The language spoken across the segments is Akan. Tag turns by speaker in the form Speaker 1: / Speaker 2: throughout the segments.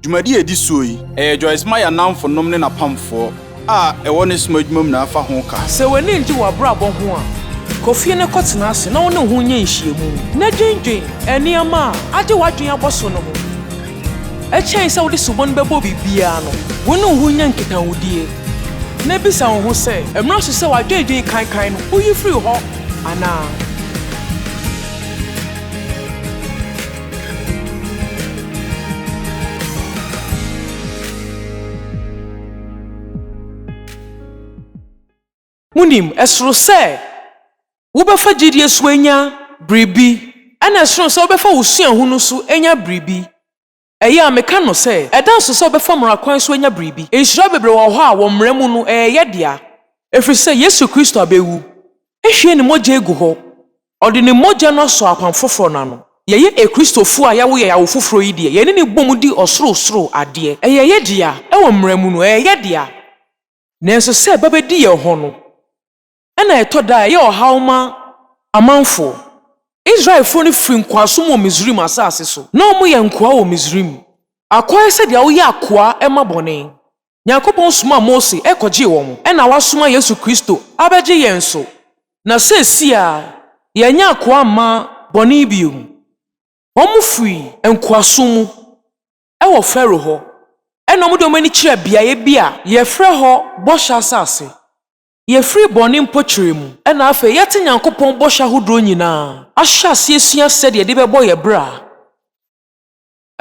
Speaker 1: Dwumadi a edi soɔ yi, ɛyɛ Joyce Meyer nnamfonom ne n'apamfoɔ a ɛwɔ ne som adwuma mu na ɛfa ho ka. Sɛ w'ani nnye w'abrabɔ
Speaker 2: ho a, kɔ fie na kɔtena ase na wo ne wo ho nyɛ nhyiamu, na dwinnwen nneɛma a agye w'adwene abɔ so no ho. Ɛkyɛn sɛ wode sobo no bɛbɔ biribiara no, wo ne wo ho nyɛ nkitahodie, na bisa wo ho sɛ, 'Ɛmmra so sɛ w'adwennwen kankan no, woyi firi hɔ anaa? Munim, ɛsoro sɛ wobɛfa gyedie so anya biribi, ɛna ɛsono sɛ wobɛfa wo suahu no so anya biribi. Ɛyɛ a meka no sɛ, ɛda nso sɛ wobɛfa mmara kwan so anya biribi. Nhyira bebree wɔ hɔ a, wɔ mmara mu no, ɛyɛ yɛdea. Ɛfiri sɛ Yesu Kristo abɛwu, ahwie ne mogya agu hɔ, Ɔde ne mogya no asɔ apam foforɔ no ano. Yɛyɛ Akristofoɔ a yɛawo yɛn awo foforɔ yi deɛ, yɛne no bom di ɔsorosoro adeɛ. Ɛyɛ yɛ dea, wɔ mmara mu no, ɛyɛ yɛ dea. Nanso sɛ ɛba bɛdi yɛn hɔ no, ɛna ɛtɔ da a ɛyɛ ɔhaw ma amanfoɔ. Israelfoɔ no firii nkoasom wɔ Misraim asase so. Na wɔyɛ nkoa wɔ Misraim. Akoa yɛ sɛ deɛ woyɛ akoa ma bɔne. Nyankopɔn somaa Mose kɔgyee wɔn, ɛna Wasoma Yesu Kristo abɛgye yɛn nso, na seesei ara yɛanya akoa mma bɔne bio. Wɔfiri nkoasom mu wɔ Farao hɔ, ɛna wɔde wɔn ani kyerɛɛ beaeɛ bi a yɛfrɛ hɔ Bɔhyɛ Asase. Yɛfiri bɔne mpokyerɛ mu, ɛna afei yɛate Nyankopɔn bɔhyɛ ahodoɔ nyinaa, ahyɛ aseɛ asua sɛdeɛ yɛde bɛbɔ yɛn bra.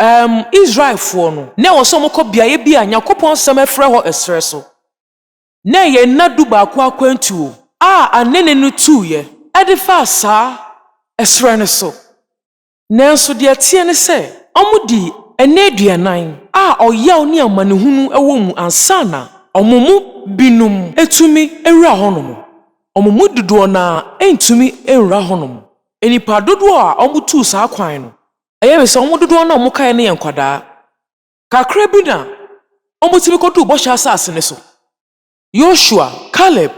Speaker 2: Erm, Israelfoɔ no, na ɛwɔ sɛ wɔkɔ beaeɛ bi a Nyankopɔn Nsɛm afirɛ hɔ ɛserɛ so. Na ɛyɛ nna dubaako akwantuo a anene no tuuɛ ɛde faa saa ɛserɛ no so. Nanso deɛ ɛteɛ ne sɛ, wɔdii nna aduanan a ɔyaw ne amanehunu wɔ mu ansa na wɔn mu binom atumi awura hɔnom. Wɔn mu dodoɔ no ara antumi anwura hɔnom. Nnipa dodoɔ a wɔtuu saa kwan no, Ɛyɛ me sɛ wɔn dodoɔ no a wɔkaeɛ no yɛ nkwadaa. Kakra bi na wɔtumi kɔduu Bɔhyɛ Asase no so. Yosua, Kaleb,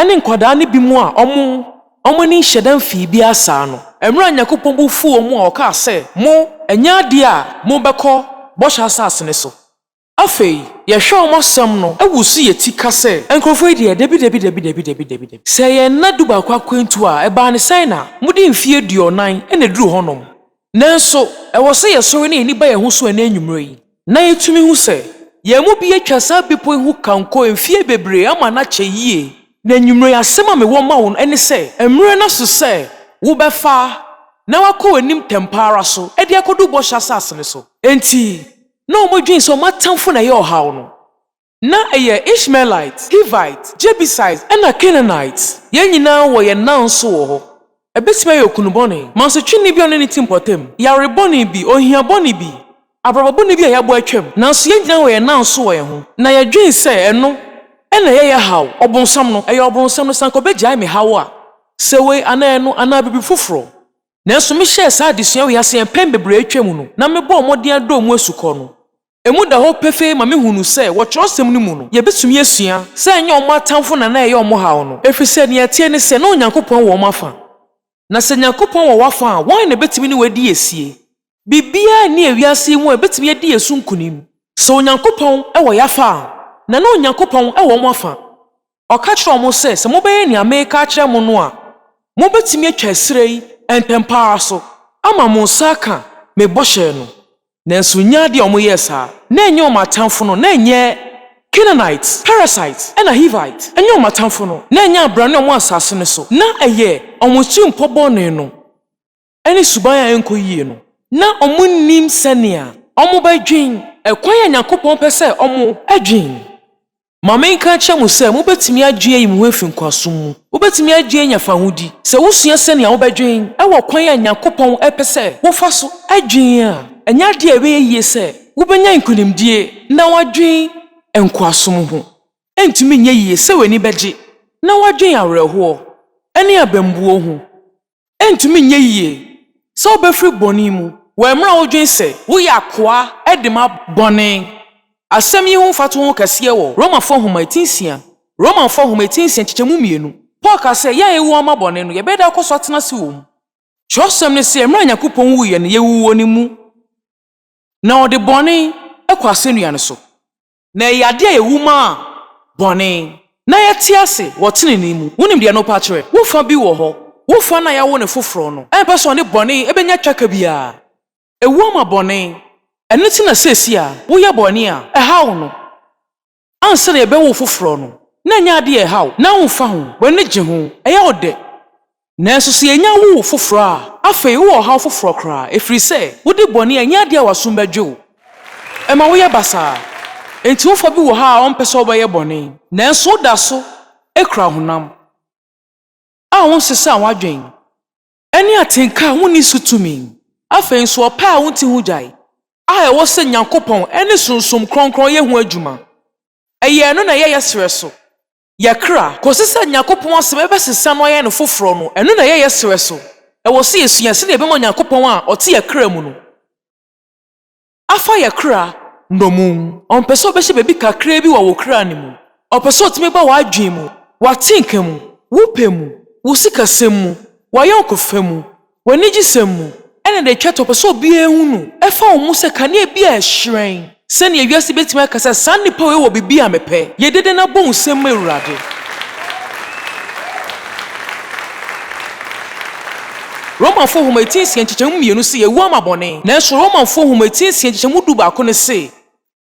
Speaker 2: ne nkwadaa no binom a wɔn wɔn ani nhyɛ da mfii biara saa no, mmerɛ a Nyankopɔn bo fuu wɔn a ɔkaa sɛ, Mo, ɛnyɛ adeɛ a mobɛkɔ Bɔhyɛ Asase no so. Afei, yɛhwɛ wɔn asɛm no wu so yɛ ti ka sɛ, Nkurɔfoɔ yi deɛ, dabi, dabi, dabi, dabi, dabi, dabi, dabi. Sɛ ɛyɛ nna dubaako akwantuo a, ɛbaa no sɛn na mode mfeɛ aduɔnan na ɛduru hɔnom? Nanso, ɛwɔ sɛ yɛsɔre na yɛn ani ba yɛn ho so ɛnnɛ anwummerɛ yi, na yɛtumi hu sɛ yɛn mu bi atwa saa bepɔ yi ho kanko mfeɛ bebree ama no akyɛ yie. Na anwummerɛ yi asɛm a mewɔ ma wo no ne sɛ, mmerɛ no aso sɛ wobɛfa na woakɔ w'anim ntɛmpa ara so de akɔduru Bɔhyɛ Asase no so. Enti, na wɔdwen sɛ wɔn atamfo na ɛyɛ ɔhaw no. Ná ɛyɛ Ishmaelite, Hivite, Jebusite, ɛnna Canaanite. Yɛn nyinaa wɔ yɛn nna nso wɔ hɔ. Ebetumi ayɛ okunu bɔne, mansotweni bi a ɔne ne ti mpɔtam, yare bɔne bi, ohia bɔne bi, abrabɔ bɔne bi a yɛabɔ atwam, nanso yɛn nyinaa wɔ yɛn nna nso wɔ yɛn ho, na yɛdwen sɛ ɛno na ɛyɛ yɛn haw. Ɔbonsam no, ɛyɛ Ɔbonsam no, sɛ anka obegyae me haw a, sɛ wei anaa ɛno, anaa biribi foforo. Nanso mehyɛɛ saa adesua wei ase mpɛn bebree a atwam no, na mebɔɔ mmɔden adɔ emu asukɔ no. Emu da hɔ pefee ma mihunuu sɛ wɔ kyerɛwsɛm no mu no, yebetumi asua sɛ ɛnyɛ wɔn atamfo na na ɛyɛ wɔn haw no, efisɛ nea ɛteɛ ne sɛ na Onyankopɔn wɔ wɔn afã. Na sɛ Nyankopɔn wɔ w'afã a, wɔn na ebetumi ne wo adi asie. Biribiara nni ewiase yi mu a ebetumi adi yɛn so nkonim. Sɛ Onyankopɔn wɔ yɛn afa a, na na Onyankopɔn wɔ wɔn afa. Ɔka kyerɛɛ wɔn sɛ, Sɛ mobɛyɛ nea mereka akyerɛ mo no a, mubetumi atwa ɛserɛ yi ntɛm pa ara so ama mo nsa aka me bɔhyɛ no. Nanso nyaa ade a wɔyɛɛ saa. Ná ɛnyɛ wɔn atamfo no, na ɛnyɛ Canaanite, Perisite, na Hivite. Ɛnyɛ wɔn atamfo no, na ɛnyɛ abrane a wɔwɔ asase no so. Ná ɛyɛ wɔn atirimpɔ bɔne no. ne suban a ɛnkɔ yie no, na wɔnnim sɛnea wɔbɛdwen ɛkwan a Nyankopɔn pɛ sɛ wɔdwen. Ma menka nkyerɛ mo sɛ mobɛtumi adwen ayi mo ho afi nkoasom mu. Wobɛtumi adwen anya fahodi sɛ wosua sɛnea wobɛdwen wɔ kwan a Nyankopɔn pɛ sɛ wofa so dwen a. Ɛnyɛ adeɛ a ɛbɛyɛ yie sɛ wobɛnya nkonimdie na woadwen nkoasom ho. Ɛntumi nyɛ yie sɛ w'ani bɛgye na woadwen awerɛhoɔ ne abambuo ho. Ɛrentumi nyɛ yiye sɛ wobefiri bɔne mu wɔ mmerɛ a wodwene sɛ woyɛ akoa de ma bɔne. Asɛm yi ho mfatoho wɔ kɛseɛ wɔ Romafoɔ Nwoma eti nsia, Romanfoɔ Nwoma eti nsia nkyekyɛmu mmienu. Paul kaa sɛ yɛn a yɛawu ama bɔne no yɛbɛda akɔ so atena ase wɔ mu. Twerɛsɛm no se mmerɛ a Nyankopɔn wuu yɛn no yɛwuwuo no mu, na ɔde bɔne kɔ asɛnnua no so. Na ɛyɛ ade a ewu maa bɔne, na yɛte ase wɔ tenenee mu. Wunim deɛ no pa kyerɛ? Wo fa bi wɔ hɔ. Wo fa no a yɛawo no foforɔ no, ɛmpɛ sɛ ɔne bɔne bɛnya twaka biara. Ewu ama bɔne. Ɛno nti na seesei a woyɛ bɔne a, ɛhaw no. Ansa na yɛbɛwo wo foforɔ no, na ɛnyɛ ade a ɛhaw wo. Ná womfa ho. W'ani gye ho. Ɛyɛ wo dɛ. Nanso sɛ yenya wu foforo a, afei wowɔ ɔhaw foforo koraa, ɛfiri sɛ wode bɔne a ɛnyɛ adeɛ a w'asom bɛgye wo. Ɛma woyɛ basaa. Enti wo fa bi wɔ ha a ɔmpɛ sɛ wobɛyɛ bɔne, nanso woda so kura honam a wonsesaa w'adwene ne atenka a wonni so tumi. Afei nso ɔpɛ a wonte ho gyae a ɛwɔ sɛ Nyankopɔn ne Sunsum Kronkron yɛ ho adwuma. Ɛyɛ ɛno na ɛyɛ yɛ serɛ so yɛ kra kosi sɛ Nyankopɔn asɛm ɛbɛsesa no ayɛ no foforɔ no, ɛno na ɛyɛ yɛ srɛ so. Ɛwɔ sɛ yɛsua sɛdeɛ yɛbɛma Onyankopɔn a ɔte yɛ kra mu no afa yɛ kra nnommum. Ɔmpɛ sɛ ɔbɛhyɛ biribi kakraa bi wɔ wo kra no mu. Ɔpɛ sɛ ɔtumi ba w'adwene mu, w'atenka mu, wo pɛ mu, wo sikasɛm mu, w'ayɔnkofa mu, Wɔ anigyesɛm mu, ɛnna da a etwa to a ɔpɛ sɛ obiara hu no fa wɔn mu sɛ kanea bi a ɛhyerɛn. Sɛnea wiase betumi aka sɛ saa nnipa wei wɔ biribi a mepɛ yɛ dede no abɔ hu sɛ, M'Awurade! Romafo Nhoma Etiri Nsia Nkyekyɛmu Mmienu se, Yɛawu ama bɔne. Nanso Romafo Nhoma Etiri Nsia Nkyekyɛmu Dubaako no se,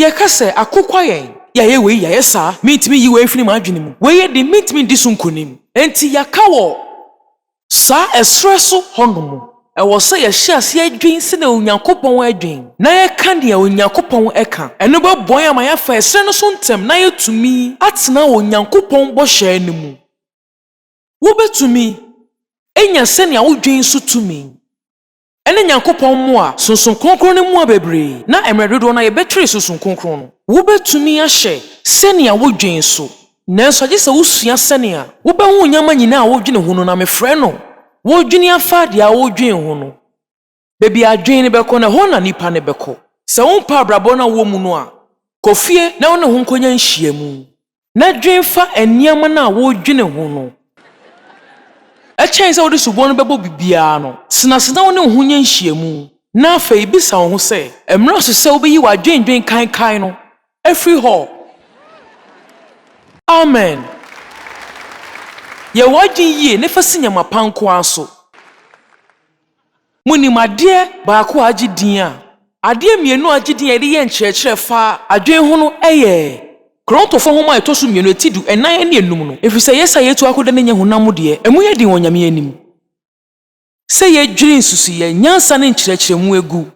Speaker 2: Yɛka sɛ, Akokwa yɛn! Yɛayɛ wei, yɛayɛ saa. Mintumi nyi wei mfiri m'adwene mu. Wei yɛ den, mintumi ndi so nkonim. Enti yɛaka wɔ saa ɛserɛ so hɔnom. Ɛwɔ sɛ yɛhyɛ aseɛ dwen sɛdeɛ Onyankopɔn dwen, na yɛka deɛ Onyankopɔn ka. Ɛno bɛboa yɛn ama yɛafa ɛserɛ no so ntɛm na yɛatumi atena Onyankopɔn bɔhyɛ no mu. Wobɛtumi anya sɛnea wodwen so tumi. Ɛne Nyankopɔn mmoa, Sunsum Kronkron no mmoa bebree, na mmerɛ dodoɔ no ara yɛbɛtwere Sunsum Kronkron no. Wobɛtumi ahyɛ sɛnea wodwen so, nanso agye sɛ wosua sɛnea wobɛhu nneɛma nyinaa a wodwene ho no na mefrɛ no wodwene afa deɛ wodwen ho no. Baabi a adwene no bɛkɔ no, ɛhɔ na nipa no bɛkɔ. Sɛ wompɛ abrabɔ no a wowɔ mu no a, kɔ fie na wone ho nkɔnya nhyiamu. na dwen fa nneɛma no a woredwene ho no ho. Ɛkyɛn sɛ wode sobo no bɛbɔ biribiara no, tena ase na wo ne wo ho nyɛ nhyiam, na afei bisa wo ho sɛ, 'Ɛmmra so sɛ wubeyi w'adwennwen kaekae no afi hɔ? Amen. Yɛ w'adwene yiye na fa si nneɛma pa nko ara so. Monim adeɛ baako a agye din a adeɛ mmienu a agye din a yɛde yɛ nkyerɛkyerɛ fa adwene ho no yɛ Korontofoɔ nwoma a ɛtɔ so mmienu, eti du, ɛnan ne enum no, ɛfiri sɛ yɛsa yɛtu akoda no nyɛ honam mu deɛ, emu yɛ den wɔ Nyame anim sɛ yɛdwiri nsusuiɛ, nyansa ne nkyerɛkyerɛmu agu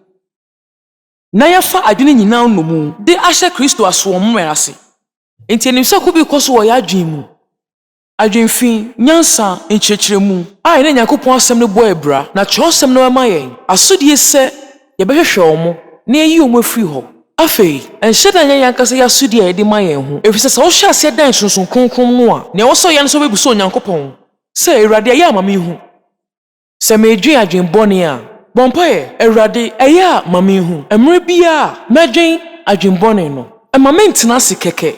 Speaker 2: na yɛafa adwene nyinaa nnomu de ahyɛ Kristo asoɔmmerɛ ase. Enti yɛnim sɛ ko bi rekɔ so wɔ yɛn adwene mu. Adwene fi nyansa, nkyerɛkyerɛmu, a yɛne Nyankopɔn Asɛm no bɔ abira, na Kyerɛwsɛm no bɛma yɛn asodie sɛ yɛbɛhwehwɛ wɔn na yɛayi wɔn afiri hɔ. Afei, nhyɛ da nyɛ yɛn ankasa yɛn asodie a yɛde ma yɛn ho, ɛfiri sɛ sɛ wohyɛ aseɛ dan Sunsum Kronkron no a, nea ɛwɔ sɛ woyɛ ne sɛ wobɛbisa Onyankopɔn sɛ, Awurade, ɛyɛ a ma menhu. Sɛ meredwen adwen bɔne a. Bɔ mpaeɛ, Awurade, ɛyɛ a ma menhu. Mmerɛ biara a mɛdwen adwen bɔne no, mma mentena ase kɛkɛ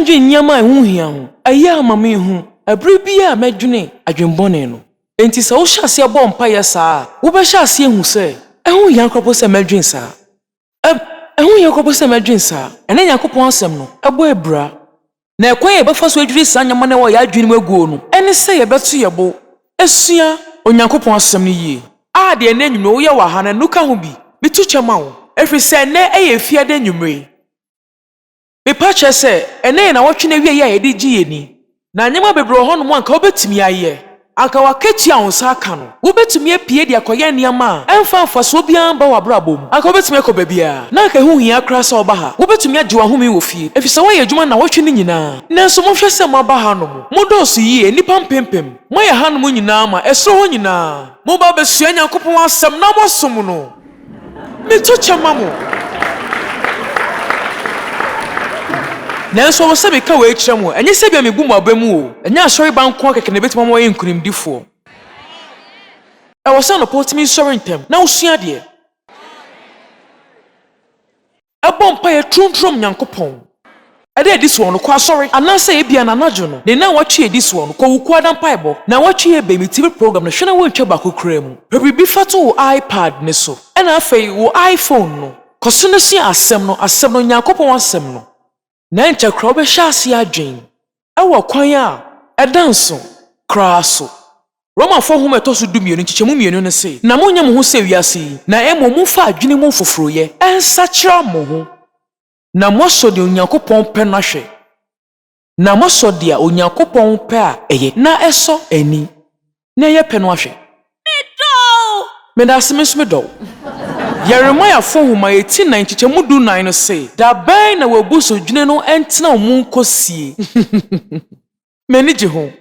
Speaker 2: ndwen nneɛma a ɛho nhia ho. Ɛyɛ a ma menhu ɛberɛ biara a mɛdwene adwen bɔne no. Enti sɛ wohyɛ aseɛ bɔ mpaeɛ saa a, wobɛhyɛ aseɛ ahu sɛ ɛho nhia koraa mpo sɛ mɛdwen saa. Ɛho nhia kopo sɛ mɛdwen saa. Ɛnnɛ Nyankopɔn Asɛm no bɔ abira. Na ɛkwan a yɛbɛfa so adwiri saa nneɛma no a ɛwɔ yɛn adwenem aguo no ne sɛ yɛbɛto yɛn bo asua Onyankopɔn Asɛm no yie. A Deɛ ɛnnɛ anwummere woyɛ wɔ aha no, ɛno ka ho bi. Meto kyɛ ma wo, ɛfiri sɛ ɛnnɛ yɛ Efiada anwummere. Mepa kyɛ sɛ, ɛnnɛ yɛ nnawɔtwe no awiei a yɛde regye yɛn ani, na nneɛma bebree wɔ hɔnom a anka wubetumi ayɛ. Anka w'akatua a wo nsa aka no, wubetumi apue de akɔyɛ nneɛma a ɛmfa mfaso biara mma w'abrabɔ mu. Anka wubetumi akɔ baabiara, na anka ɛho nhia koraa sɛ woba ha. Wubetumi agye w'ahome wɔ fie, efisɛ woayɛ adwuma nnawɔtwe no nyinaa. Nanso monhwɛ sɛ moaba hanom. Modɔɔso yiye, nnipa mpempem. Moayɛ hanom nyinaa ma, ɛsoro hɔ nyinaa. Moba abesua Nyankopɔn Asɛm na moasom no. Meto kyɛ ma mo. Nanso ɔwɔ sɛ meka wei kyerɛ mo, ɛnyɛ sɛ ebia mebu mo aba mu oo, ɛnyɛ asɔreba nko ara kɛkɛ na ebetumi ama wɔayɛ nkonimdifoɔ. Ɛwɔ sɛ anɔpa wotumi sɔre ntɛm na wosua adeɛ. bɔ mpaeɛ tromtrom Nyankopɔn de adi soɔ no, kɔ asɔre, anaasɛ ebia na anadwo no ne nawɔtwe adi soɔ no, kɔ wo kuo ada mpaebɔ. Nawɔtwe yɛ bɛn? Me TV program no, hwɛ na woantwa baako koraa mu. Pɛ biribi fa to wo iPad no so, ɛna afei wo iPhone no, kɔ so na sua Asɛm no, Asɛm no, Nyankopɔn Asɛm no. na ɛnkyɛ koraa wobɛhyɛ ase adwen wɔ kwan a ɛda nsow koraa so. Romafo nhoma a ɛtɔ so dumienu, nkyekyɛmu mmienu no se, Na monnyɛ mo ho sɛ wiase yi, na mmom momfa adwene mu foforoyɛ nsakyera mo ho, na moasɔ nea Onyankopɔn pɛ no ahwɛ, na moasɔ deɛ Onyankopɔn pɛ a ɛyɛ na ɛsɔ ani na yɛ pɛ no ahwɛ. Me dɔ wo. Medase me nso me dɔ wo. Yeremia fo nhoma eti nnan nkyekyɛmu du nnan no se. Da bɛn na w'abusudwene no ntena wo mu nkɔ sie? M'ani gye ho.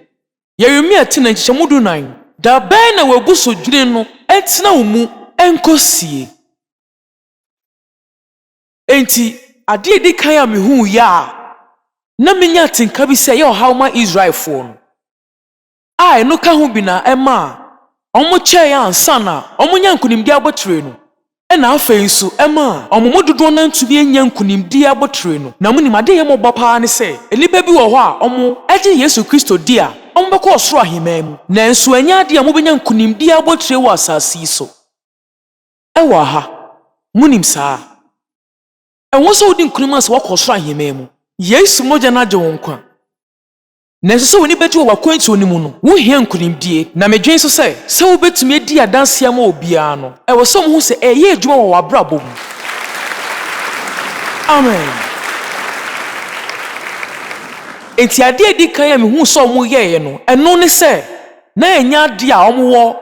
Speaker 2: Yeremia ti nnan nkyekyɛmu du nnan. Da bɛn na w'abusudwene no ntena wo mu nkɔ sie? Enti, ade a edi kan a mihuu yɛ a na minya atenka bi sɛ ɛyɛ ɔhaw ma Israelfoɔ no, a ɛno ka ho bi na ɛmaa wɔkyɛe ansa na wɔanya nkonimdi abotire no, ɛna afei nso ɛmaa wɔn mu dodoɔ no ara ntumi annya nkonimdi abotire no. Na monim, adeɛ ɛyɛ me ɔbɔ pa ara ne sɛ, nnipa bi wɔ hɔ a wɔagye Yesu Kristo di a wɔbɛkɔ ɔsoro ahemman mu, nanso ɛnyɛ adeɛ a wɔbɛnya nkonimdi abotire wɔ asase yi so wɔ ɛha. Monim saa? Ɛwɔ sɛ wodi nkonim ansa woakɔ ɔsoro ahemman mu. Yesu mogya no agye wo nkwa. Nanso sɛ w'ani begye wɔ w'akwantuo no mu no, wohia nkunimdie. Na medwen nso sɛ, sɛ wobɛtumi adi adanseɛ ama obiara no, ɛwɔ sɛ wohu sɛ ɛreyɛ adwuma wɔ w'abrabɔ mu. Amen. Enti adeɛ a ɛdi kan a mehuu sɛ wɔyɛeɛ no, ɛno ne sɛ na ɛnyɛ adeɛ a wɔwɔ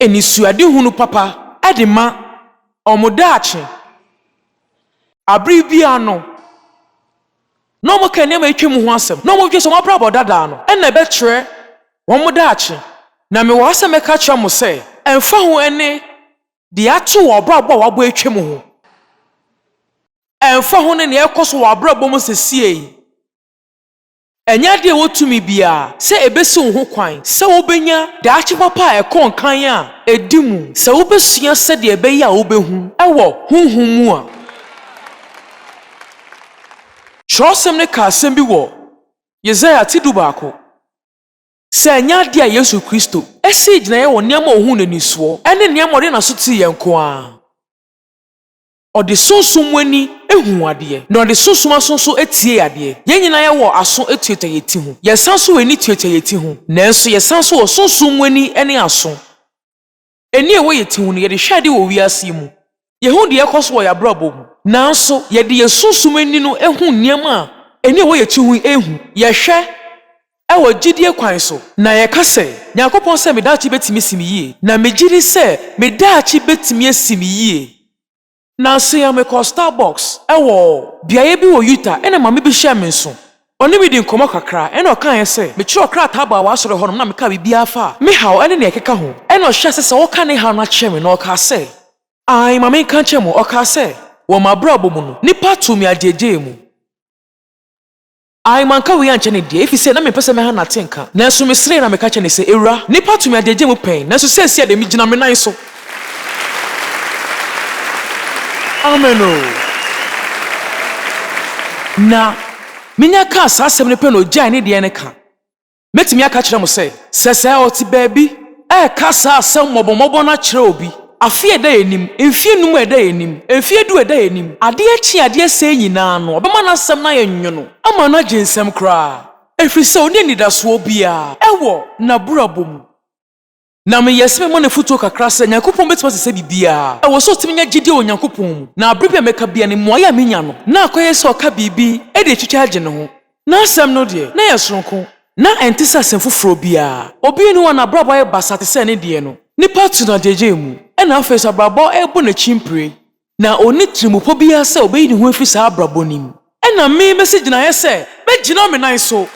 Speaker 2: anisoadehunu papa de ma wɔn daakye. Bere biara no. na wɔka nneɛma a atwam ho asɛm, na wɔdwene sɛ wɔn abrabɔ dada no na ɛbɛkyerɛ wɔn daakye. Na mewɔ ha sɛ mɛka akyerɛ mo sɛ, ɛmfa ho ɛnne de ato wɔn abrabɔ a wɔabɔ atwam ho, ɛmfa ho ne nea ɛrekɔ so wɔ wɔn abrabɔ mu sesie yi, ɛnyɛ ade a ɛwɔ tumi biara sɛ ebesiw ho kwan sɛ wobenya daakye papa a ɛkɔ nkan a edi mu sɛ wobesua sɛnea ɛbɛyɛ a wobehu wɔ honhom mu a. Kyerɛwsɛm no ka asɛm bi wɔ Yesaia ti dubaako, Sɛ ɛnyɛ ade a Yesu Kristo sii gyinae wɔ nneɛma a ohuu no ani soɔ ne nneɛma a ɔde n'aso teeɛ nko ara a, ɔde sunsum mu ani huu adeɛ, na ɔde sunsum aso nso tiee adeɛ. Yɛn nyinaa yɛwɔ aso tuatua yɛn ti ho. Yɛsan nso wɔ ani tuatua yɛn ti ho. Nanso yɛsan nso wɔ sunsum mu ani ne aso. Ani a ɛwɔ yɛn ti ho no, yɛde hwɛ ade wɔ wiase yi mu. Yehu deɛ ɛrekɔ so wɔ yɛn abrabɔ mu. Nanso, yɛde yɛn sunsum ani no hu nneɛma a ani a ɛwɔ yɛn ti ho yi nhu. Yɛhwɛ wɔ gyidie kwan so, na yɛka sɛ, Nyankopɔn sɛ me daakye bɛtumi asi me yie, na megye di sɛ me daakye bɛtumi asi me yie. Nnansa yi mekɔɔ Starbucks wɔ beaeɛ bi wɔ Utah ɛna maame bi hyɛɛ me nso. Ɔne me dii nkɔmmɔ kakra ɛna ɔkaeɛ sɛ mekyerɛw krataa baa w'asɔre hɔnom na mekaa biribiara faa me haw ne nea ɛkeka ho ɛna ɔhyɛɛ ase sɛ ɔreka ne haw no akyerɛ me na ɔkaa sɛ, Aane, ma menka nkyerɛ mo, ɔkaa sɛ, wɔ m'abrabɔ mu no, nnipa too me agyeegyee mu. Ae, manka wei ankyɛ no deɛ, efisɛ na mempɛ sɛ mɛha no atenka. Nanso meseree na meka kyerɛɛ no sɛ, Awura, nnipa tumi agyagya mu pɛn, nanso seesei de, megyina me nan so. Amen oo. Na Minya kaa saa asɛm no pɛ na ogyaee ne deɛ no ka. Mɛtumi aka akyerɛ mo sɛ, sɛ sɛ ɔte baabi reka saa asɛm mmɔbɔmmɔbɔ no akyerɛ obi, afe a ɛda yɛn anim, mfeɛ nnum a ɛda yɛn anim, mfeɛ du a ɛda yɛn anim, adeɛ kye a adeɛ sɛe nyinaa no, ɔbɛma n'asɛm no ayɛ nwono ama no agye nsam koraa, ɛfiri sɛ ɔnni anidasoɔ biara wɔ n'abrabɔ mu. Na meyɛ sɛ mɛma no afotuo kakra sɛ Nyankopɔn bɛtumi asesa biribiara. Ɛwɔ sɛ ɔtumi nya gyedie wɔ Nyankopɔn mu. Na berɛ bi a mɛka biara no, mmuaeɛ a menya no, na akɔyɛ sɛ ɔka biribi de retwitwa agye ne ho. N'asɛm no deɛ, na ɛyɛ sononko. Ná ɛnte sɛ asɛm foforɔ biara. Obi nni hɔ a n'abrabɔ ayɛ basaa te sɛ ne deɛ no. Nnipa tu no agyegyeɛ mu. Ɛnna afei nso abrabɔ rebɔ n'akyi mpire. Na ɔnni tirimupɔ biara sɛ ɔbɛyi ne ho afiri saa abrabɔ no mu. Ɛnna me mɛsi gyinaeɛ sɛ mɛgyina me nan so.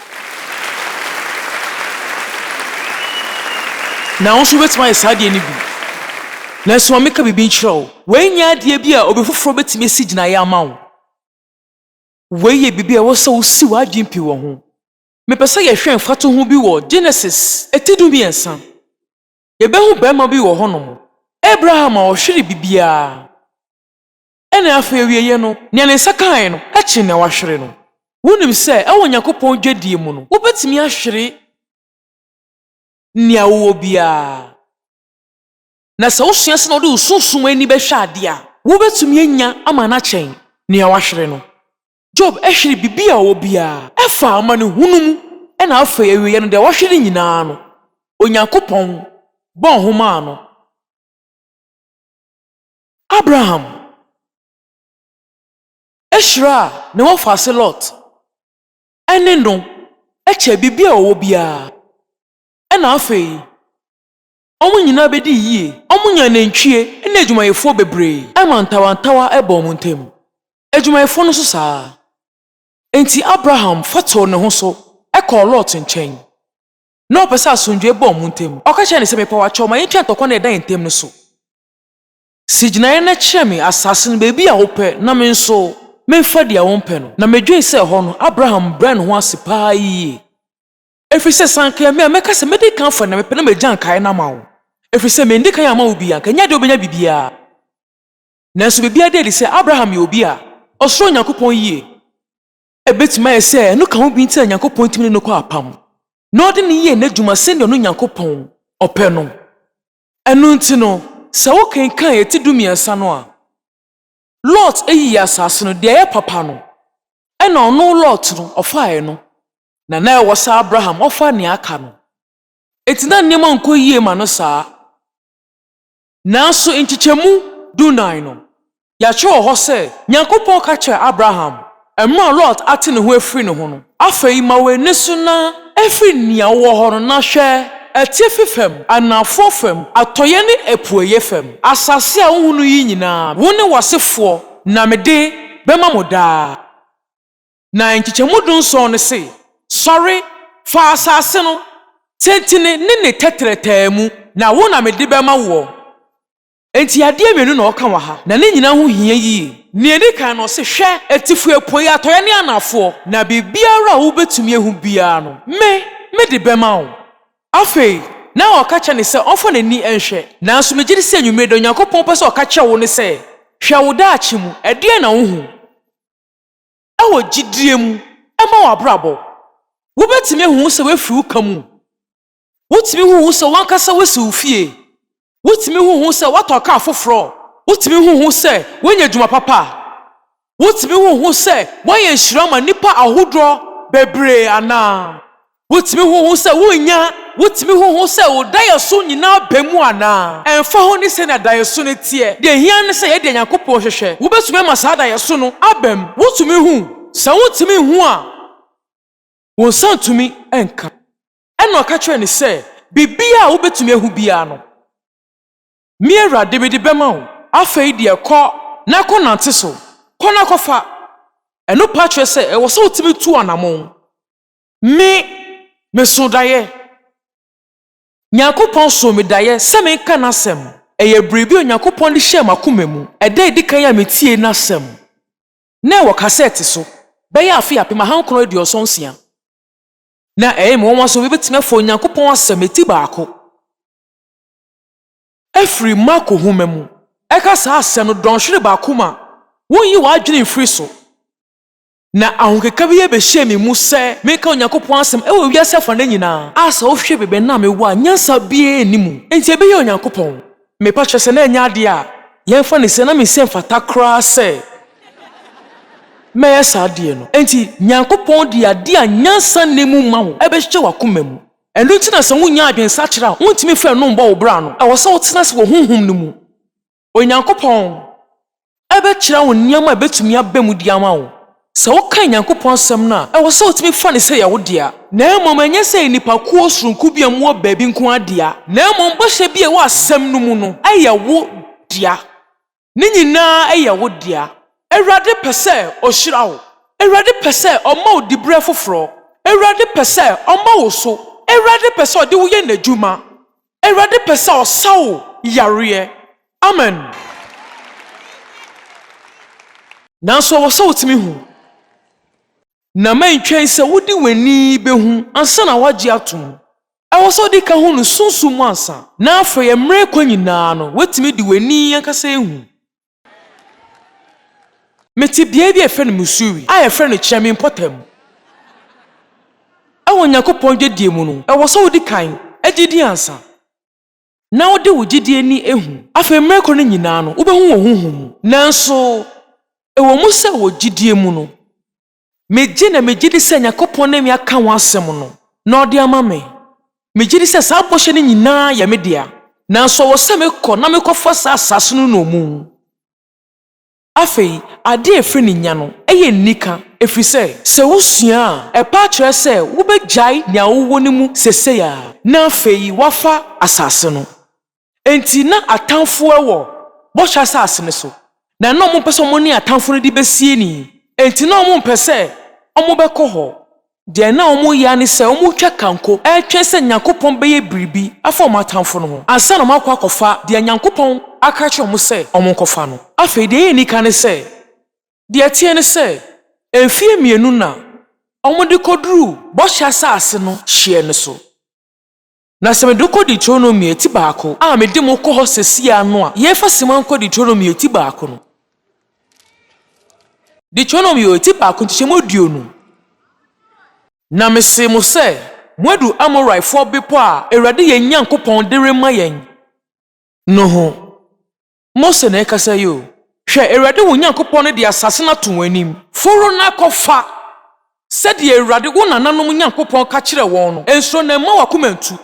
Speaker 2: Na wo nso wobɛtumi ayɛ saa adeɛ no bi. Nanso ma menka biribi nkyerɛ wo. Wei nyɛ adeɛ bi a obi foforɔ bɛtumi asi gyinaeɛ ama wo. Wei yɛ biribi a ɛwɔ sɛ wosi w'adwene pi wɔ ho. Mepɛ sɛ yɛhwɛ mfatoho bi wɔ Genesis ti dumiɛnsa. yɛbɛhu barima bi wɔ hɔnom, Abraham a ɔhwere biribiara, ɛnna afei awieeɛ no, nea ne nsa kaeɛ no kyɛn nea wahwere no. Wonim sɛ wɔ Onyankopɔn dwadie mu no, wobɛtumi ahwere nea wowɔ biara. Na sɛ wosua sɛnea wode wo sunsum ani bɛhwɛ adeɛ a, wobɛtumi anya ama no akyɛn nea wahwere no. Job hweree biribi a ɔwɔ biara. Ɛfaa amanehunu mu, ɛnna afei awieeɛ no, deɛ wahwere nyinaa no, Onyankopɔn bɔɔ ho maa no. Abraham hyiraa ne wɔfaase Lot, ɛne no kyɛɛ biribi a ɔwɔ biara, ɛnna afei Wɔn nyinaa bɛdii yie. Wɔnyaa nantwie ne adwumayɛfoɔ bebree. Ɛma ntawantawa baa wɔn ntam. Adwumayɛfoɔ no nso saa ara. Enti Abraham fa too ne ho so kɔɔ Lot nkyɛn. Ná ɔpɛ sɛ asomdwoeɛ ba wɔn ntam. Ɔka kyerɛɛ no sɛ, Mepa wo akyɛw, ma yɛntwa ntɔkwa no a ɛda yɛn ntam no so. Si gyinaeɛ na kyerɛ me asaase no baabi a wopɛ na me nso memfa deɛ wompɛ no. Na medwene sɛ ɛhɔ no Abraham brɛ ne ho ase paa yie. Ɛfiri sɛ sɛ anka ɛyɛ me a, mɛka sɛ, Mɛdi kan afa, na mepɛ na magya nkaeɛ no ama wo. Ɛfiri sɛ mendi kan amma wo bi a, anka ɛnyɛ deɛ wobɛnya biribiara. Nanso biribiara da adi sɛ, Abraham yɛ obi a ɔsuro Onyankopɔn yie. Ɛbɛtumi ayɛ sɛ ɛno ka ho bi nti na Nyankopɔn tumi ne no kɔɔ apam, na ɔde no yɛɛ n'adwuma sɛdeɛ ɔno Nyankopɔn ɔpɛ no. Ɛno nti no, sɛ wokenkan eti dumiɛnsa no a, Lot yii asase no, deɛ ɛyɛ papa no, ɛna ɔno Lot no, ɔfaaɛ no, na na ɛwɔ sɛ Abraham ɔfa nea aka no. Enti na nneɛma nkɔ yie ma no saa. Nanso nkyekyɛmu dunan no, yɛatwerɛ wɔ hɔ sɛ, Nyankopɔn ka kyerɛɛ Abraham, Ɛmaa Lot ate ne ho afiri ne ho no. Afei ma w'ani so na firi nea wowɔ hɔ no na hwɛ atifi fam, anaafoɔ fam, atɔeɛ ne apueeɛ fam. Asase a wohunu yi nyinaa, wo ne w'asefoɔ na mede bɛma mo daa. Na nkyekyɛmu dunson no se, Sɔre, fa asase no, tentene ne ne tɛtrɛtɛɛ mu, na wo na mede bɛma woɔ. Enti adeɛ mmienu na ɔka wɔ ha, na ne nyinaa ho hia yie. Nea ɛdi kan no, ɔse, Hwɛ, atifi, apueeɛ, atɔeɛ ne anaafoɔ, na biribiara a wobɛtumi ahu biara no, me, mede bɛma wo. Afei, na ɔka kyerɛ no sɛ ɔmfa n'ani nhwɛ. Nanso megye di sɛ anwummere yi da, Onyankopɔn pɛ sɛ ɔka kyerɛ wo ne sɛ, Hwɛ wo daakye mu, ɛdeɛn na wohu? Wɔ gyidie mu, ɛmma w'abrabɔ. Wobɛtumi ahu ho sɛ woafiri wo ka mu. Wotumi hu ho sɛ w'ankasa woasi wo fie. Wotumi hu ho sɛ woatɔ kaa foforɔ. Wotumi hu ho sɛ woanya adwuma papa. Wotumi hu ho sɛ woayɛ nhyira ama nnipa ahodoɔ bebree anaa. Wotumi hu ho sɛ wonya. Wotumi hu ho sɛ wo daeɛso nyinaa aba mu anaa. Ɛmfa ho ne sɛnea daeɛso no teɛ, deɛ ɛhia ne sɛ yɛ deɛ Nyankopɔn hwehwɛ. Wobɛtumi ama saa daeɛso no aba mu. Wotumi hu. Sɛ wontumi nhu a, wo nsa ntumi nka. Ɛnna ɔka kyerɛɛ no sɛ, Biribiara a wubetumi ahu biara no, me awurade, mede bɛma wo. Afei deɛ kɔ na kɔnante so. Kɔ na kɔfa. Ɛno pa kyerɛ sɛ ɛwɔ sɛ wotumi tu anammɔn. Me, mesoo daeɛ. Nyankopɔn soo me daeɛ sɛ menka N'asɛm. Ɛyɛ biribi a Onyankopɔn de hyɛɛ m'akoma mu ɛda a edi kan a metiee N'asɛm, na ɛwɔ kasɛɛte so, bɛyɛ afe apem ahankron aduɔsɔn nsia. Na ɛyɛ me nwanwa sɛ obi betumi afa Onyankopɔn asɛmti baako afiri Marko nhoma mu ɛka saa asɛm no dɔnhwere baako mu a wonyi w'adwene mfiri so. Na ahokeka bi behyɛɛ me mu sɛ menka Onyankopɔn asɛm wɔ wiase afanan nyinaa a sɛ wohwɛ baabi a na mewɔ a nyansa biara nni mu, enti ɛbɛyɛ Onyankopɔn. Me ba kyerɛ sɛ na ɛnyɛ adeɛ a yɛmfa no sɛ na me se mfata koraa sɛ mɛyɛ saa adeɛ no. Enti Nyankopɔn de adeɛ a nyansa nni mu ma wo bɛhyehyɛ w'akoma mu. Ɛno nti na sɛ wonnya adwensakyera a wontumi mfa ɛno mmɔ wo bra no, ɛwɔ sɛ wotena ase wɔ Honhom no mu. Onyankopɔn ɛbɛkyerɛ wo nneɛma a ebetumi aba mu de ama wo. Sɛ wokan Nyankopɔn Asɛm no a, ɛwɔ sɛ wutumi fa no sɛ ɛyɛ wo dea, na mmom ɛnyɛ sɛ ɛyɛ nnipakuw soronko bi a wɔwɔ baabi nko ara dea, na mmom bɔhyɛ bi a ɛwɔ Asɛm no mu no yɛ wo dea. Ne nyinaa yɛ wo dea. Awurade pɛ sɛ Ɔhyira wo. Awurade pɛ sɛ Ɔma wo diberɛ foforɔ. Awurade pɛ sɛ Ɔma wo so. Awurade pɛ sɛ Ɔde wo yɛ N'adwuma. Awurade pɛ sɛ ɔsa wo yareɛ. Amen. Nanso ɛwɔ sɛ wotumi hu. Na mɛntwɛn sɛ wode w'ani bɛhu ansa na woagye atom. Ɛwɔ sɛ wode ka hu no sunsum mu ansa, na afei mmerɛ ɛkɔ nyinaa no, woatumi de w'ani ankasa ahu. Mete beae bi a yɛfrɛ no Missouri a yɛfrɛ no Kyerɛ Me Mpɔtam. Wɔ Nyankopɔn dwadie mu no, ɛwɔ sɛ wodi kan gye din ansa na wode wo gyedie ani ahu. Afei mmerɛ kɔ no nyinaa no wobɛhu wɔ honhom mu. Nanso ɛwɔ mu sɛ wɔ gyedie mu no Megye na megye di sɛ Nyankopɔn ne me aka ho asɛm no, na ɔde ama me. Megye di sɛ saa bɔhyɛ no nyinaa yɛ me dea, nanso ɔwɔ sɛ mekɔ na mekɔfa saa asaase no nnommum. Afei, ade a ɛfiri ne nya no yɛ nnika, ɛfiri sɛ, sɛ wosua a, ɛpa akyerɛ sɛ wobɛgyae nea wowɔ no mu seesei ara, na afei woafa asaase no. Enti na atamfo wɔ Bɔhyɛ Asase no so, na na wɔmpɛ sɛ wɔne atamfo no de besie ni, enti na wɔmpɛ sɛ wɔbɛkɔ hɔ. Deɛ na wɔyɛ ara ne sɛ wɔretwa kanko retwɛn sɛ Nyankopɔn bɛyɛ biribi afa wɔn atamfo no ho ansa na wɔakɔ akɔfa deɛ Nyankopɔn aka akyerɛ wɔn sɛ wɔnkɔfa no. Afei deɛ ɛyɛ anika ne sɛ, deɛ ɛteɛ ne sɛ, mfeɛ mmienu na wɔde kɔduruu Bɔhyɛ Asase no hyeɛ no so. Na sɛ mede wo kɔ Deuteronomy ati baako a mede mo kɔ hɔ sɛsi ara no a, yɛmfa simma nkɔ Deuteronomy ati baako no. Deuteronomy ati baako nkyekyɛmu aduonu. Na mesee mo sɛ, Moadu Amorifoɔ bepɔ a Awurade yɛn Nyankopɔn de rema yɛn no ho. Mose na ɛrekasa yi o. Hwɛ, Awurade wo Nyankopɔn no de asase no ato wɔn anim. Foro na kɔfa, sɛdeɛ Awurade wo nananom Nyankopɔn ka kyerɛɛ wɔn no. Nsuro na mma w'akoma ntu.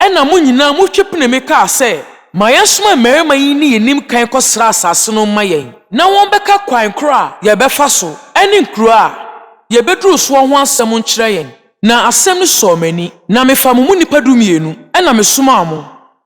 Speaker 2: Ɛnna mo nyinaa motwe penee kaa sɛ, Ma yɛnsoma mmarima yi nni yɛn anim kan nkɔsra asase no mma yɛn, na wɔmmɛka kwan korɔ a yɛbɛfa so ne nkuro a yɛbɛduru soɔ ho asɛm nkyerɛ yɛn. Na asɛm no sɔɔ m'ani, na mefaa mo mu nnipa dumienu na mesomaa mo.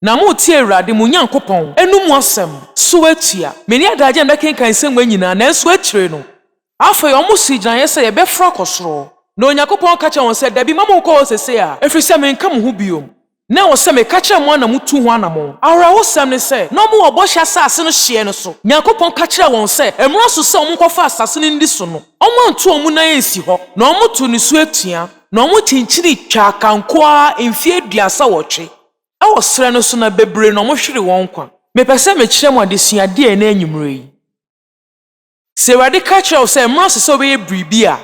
Speaker 2: Na moretie Awurade, mo Nyankopɔn, no mu asɛm, so atua. Me ne adagyeɛ na mɛkenkan nsɛmma nyinaa, nanso akyire no. Afei wɔsii gyinaeɛ sɛ, Yɛbɛforo akɔ soro. Na Onyankopɔn ka kyerɛɛ wɔn sɛ, Dabi, mma monkɔ hɔ seesei a, ɛfiri sɛ merenka mo ho bio. Na ɛwɔ sɛ meka kyerɛ mo a na motu ho anammɔn. Awerɛhosɛm ne sɛ, na wɔwɔ Bɔhyɛ Asase no hyeɛ no so. Nyankopɔn ka kyerɛɛ wɔn sɛ, Ɛmmra so sɛ wɔnkɔfa asase no nni so no, wɔanto wɔn nan ansi hɔ, na wɔtoo ne so atua, na wɔkyinkyinii twaa kanko ara mfeɛ aduasa nwɔtwe. Wɔ serɛ no so na bebree na wɔhwere wɔn nkwa. Mepɛ sɛ mekyerɛ mo adesua deɛ ɛnnɛ anwummerɛ yi. Sɛ Awurade ka kyerɛ wo sɛ mmerɛ ase sɛ wobɛyɛ biribi a,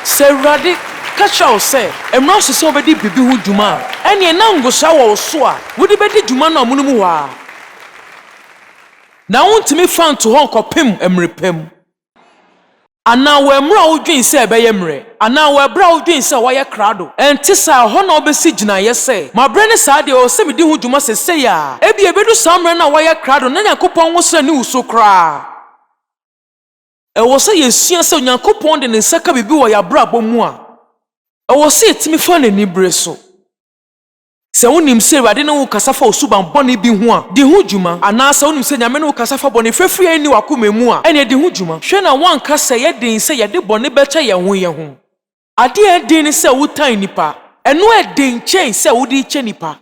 Speaker 2: Sɛ Awurade ka kyerɛ wo sɛ mmerɛ ase sɛ wobɛdi biribi ho dwuma a, ɛnneɛ na ngosaa wɔ wo so a wode bɛdi dwuma no amonom hɔ ara. na wontumi mfa nto hɔ nkɔpem mmere pa mu, anaa wɔ mmere a wodwen sɛ ɛbɛyɛ mmerɛ, anaa wɔ ɛberɛ a wodwen sɛ wɔayɛ krado. Ɛnte saa. Ɛhɔ na wobɛsi gyinaeɛ sɛ, Maberɛ ne saa deɛ, ɛwɔ sɛ medi ho dwuma seesei ara. Ebia ɛbɛdu saa mmerɛ no a woayɛ krado no na Nyankopɔn nwosrɛ nni wo so koraa. Ɛwɔ sɛ yɛsua sɛ Onyankopɔn de Ne nsa ka biribi wɔ yɛn abrabɔ mu a, ɛwɔ sɛ yɛtumi fa no anibere so. Sɛ wunim sɛ Awurade ne wo kasa fa osuban bɔne bi ho a, di ho dwuma. Anaa sɛ wunim sɛ Nyame ne wo kasa fa bɔne fafiri a enni w'akoma mu a, ɛnneɛ di ho dwuma. Hwɛ na woanka sɛ ɛyɛ den sɛ yɛde bɔne bɛkyɛ yɛn ho yɛn ho. Ade a ɛyɛ den ne sɛ wotan nnipa. Ɛno yɛ den kyɛn sɛ wode rekyɛ nnipa.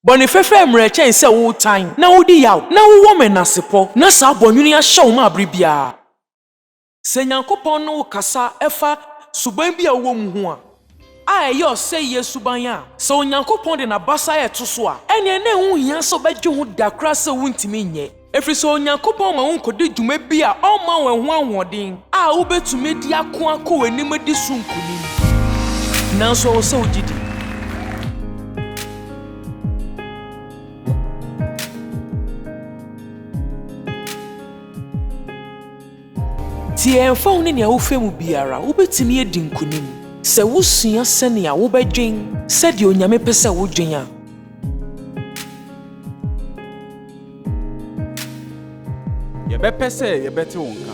Speaker 2: Bɔne fafiri ayɛ mmerɛ kyɛn sɛ wotan, na wodi yaw, na wowɔ menasepɔ, na saa bɔnwene yi ahyɛ wo ma bere biara. Sɛ Nyankopɔn ne wo kasa fa suban bi a wowɔ mu ho a, a ɛyɛ ɔsɛeɛ suban a, sɛ Onyankopɔn de n'abasa reto so a, ɛnneɛ na ɛho nhia sɛ wobɛdwe ho da koraa sɛ wontumi nyɛ, ɛfiri sɛ Onyankopɔn ama wonkɔdi dwuma bi a ɔmma wo ɛho ahoɔden a wobɛtumi de ako akɔ w'anim adi so nkonim. Nanso ɛwɔ sɛ wogye di. Tie, ɛmfa ho ne nea wofrɛ mu biara, wubetumi adi nkonim sɛ wusua sɛnea wobɛdwen sɛdeɛ Onyame pɛ sɛ wodwen a.
Speaker 1: Yɛbɛpɛ sɛ yɛbɛte wo nka.